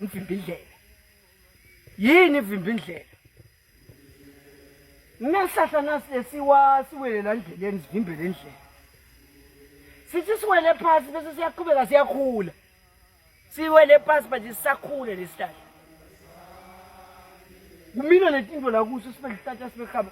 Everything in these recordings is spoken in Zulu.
mvimbindlela yini ivimbindlela nesihlahla nasesiwa siwelela ndleleni sivimbele indlela sithi siwele phasi bese siyaqhubeka siyakhula siwele phasi but sisakhule lesihlahla kumina netinto lakuso sibe lihlahla sibe khaba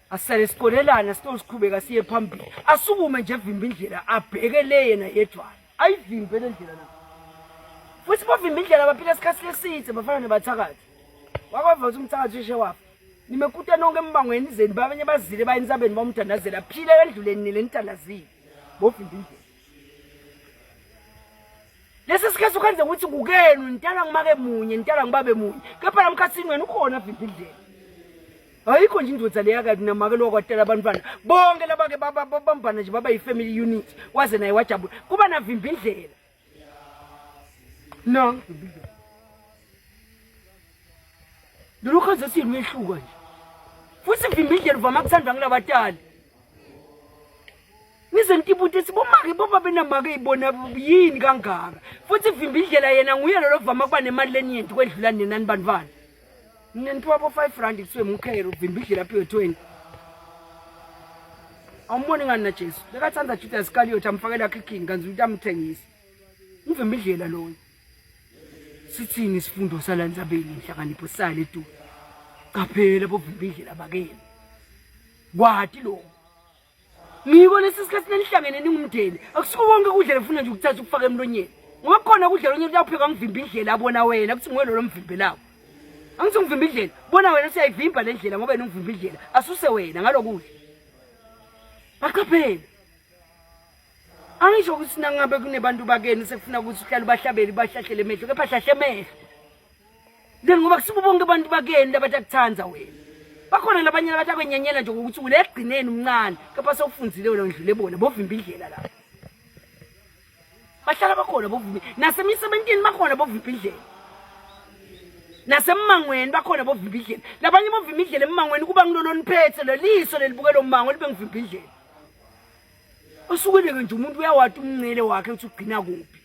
asale sikolelana sitosiqhubeka siye phambili asukume nje evimba indlela abheke le yena yedwana ayivimbe le ndlela na futhi bavimba indlela baphila isikhathi leside bafana nebathakathi wakwava ukuthi umthakathi ushe wafa nimekuta nonke embangweni izeni babanye bazile bayini sabeni bamthandazela phila endluleni nile nithandazile bovimba indlela lesi sikhathi ukwenze ukuthi kukenu nitala ngumake munye nitala ngibabe munye kepha namkhathini wena ukhona vimba indlela ayikho nje indoda leya kati namake lowa kwatela abantwana bonke labake babambana nje baba yi-family unit waze naye wajabula kuba navimba indlela no lolukhazi esiyilwehluka nje futhi vimba indlela uvama kuthandwa ngulabatali ngize ngitibuta ukuthi bomake boba benamake ibona yini kangaka futhi ivimba indlela yena nguye lolo vama kuba nemali leniyenti kwedlula nina nibantwana mina niphiwa bo-five rand kuthiwe mukhere uvimba indlela aphiwe twenty awumboni ngani najesu bekathanda juda isikaliyothi amfakela kikini kanzi ukuthi amthengise uvimba indlela loyo sithini isifundo salanzabeni inhlakanipho sale tu qaphela bovimba indlela bakeni kwati lokho ngiko lesi sikhathi nanihlangene ningumndeni akusuko konke kudla lefuna nje ukuthatha ukufaka emlonyeni ngoba kukhona kudla lonye kuyawupheka ngivimba indlela abona wena kuthi nguwe lolo mvimbelawo angithi ungivimba indlela bona wena siyayivimba le ndlela ngoba yena ungivimba indlela asuse wena ngalokudla baqaphele angisho ukuthi nangabe kunebantu bakeni sekufuna ukuthi uhlale ubahlabeli bahlahlele emehlo kepha hlahle emehlo then ngoba kusuke bonke abantu bakeni labathi akuthanda wena bakhona labanye labathi akwenyanyela nje ngokuthi ule ekugcineni umncane kepha sewufunzile wena ndlule bona bovimba indlela lapho bahlala bakhona bovimba nasemisebentini bakhona bovimba indlela nasemangweni bakhona bovimba indlela labanye bovimba indlela emangweni kuba ngiloloniphethe leliso lelibukela ummango libe ngivimba indlela osukweleke nje umuntu uyawati umncele wakhe ukuthi ugcina kuphi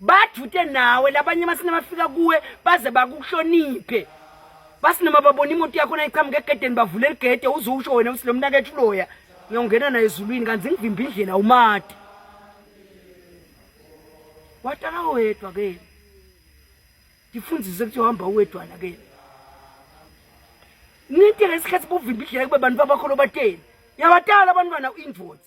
bajute nawe labanye amasini abafika kuwe baze bakuhloniphe basi noma babona imoto yakho nayiqhamuka egedeni bavule ligede uze usho wena ukuthi lo mnakethu uloya ngiyongena naye ezulwini kanti ngivimba indlela umati watala wedwa ke ngifundise ukuthi uhamba uwedwana ke ninte lesikhathi buvimba indlela kube bantu babakho lobateni yabatala abantwana u-invoice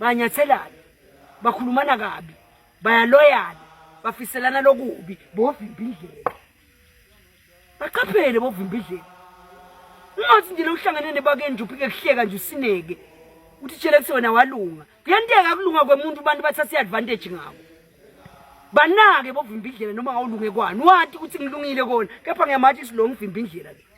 banyathelana bakhulumana kabi bayaloyana bafiselana lokubi bovimba indlela baqaphele bovimba indlela ungathi nje lokuhlangane nebakeni nje uphike kuhleka nje usineke uthi tshela kuthi wena walunga kuyanteka kulunga kwemuntu abantu bathatha i-advantage ngako banake bovimba indlela noma awulunge kwani wati ukuthi ngilungile kona kepha ngiyamathi silonga uvimba indlela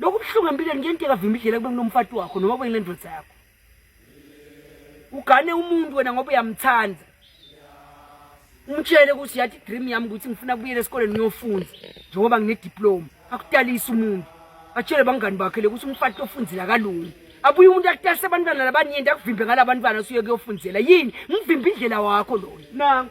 Lokhu buhlungu empilweni kuyenteka vimba idlela kube kunomfati wakho noma kube ngendoda yakho. Ugane umuntu wena ngoba uyamthanda. Umtshele ukuthi yathi dream yami ukuthi ngifuna kubuyela esikoleni ngiyofunda njengoba ngine diploma. Akutalisa umuntu. Atshele bangani bakhe lokuthi umfati ofundela kalungi. Abuye umuntu akutalisa abantwana labanyenti akuvimbe ngalabantwana usuye kuyofundela. Yini? Ngivimba indlela wakho loyo. Nangu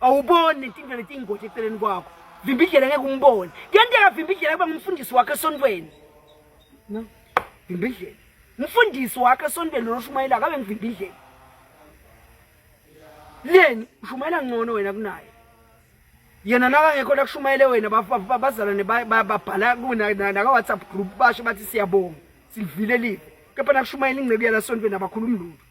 awuboni inkinga leti ingozi eceleni kwakho vimba indlela ngeke umbone kuyenteka vimba indlela kuba ngumfundisi wakho esontweni no vimba indlela umfundisi wakho esontweni lona oshumayelayo kabe ngivimba indlela leni ushumayela ngcono wena kunaye yena nakangekho lakushumayele wena bazalwane babhala nakawhatsapp group basho bathi siyabonga silivile live kepha nakushumayela ingceku yalasontweni abakhulumi lutho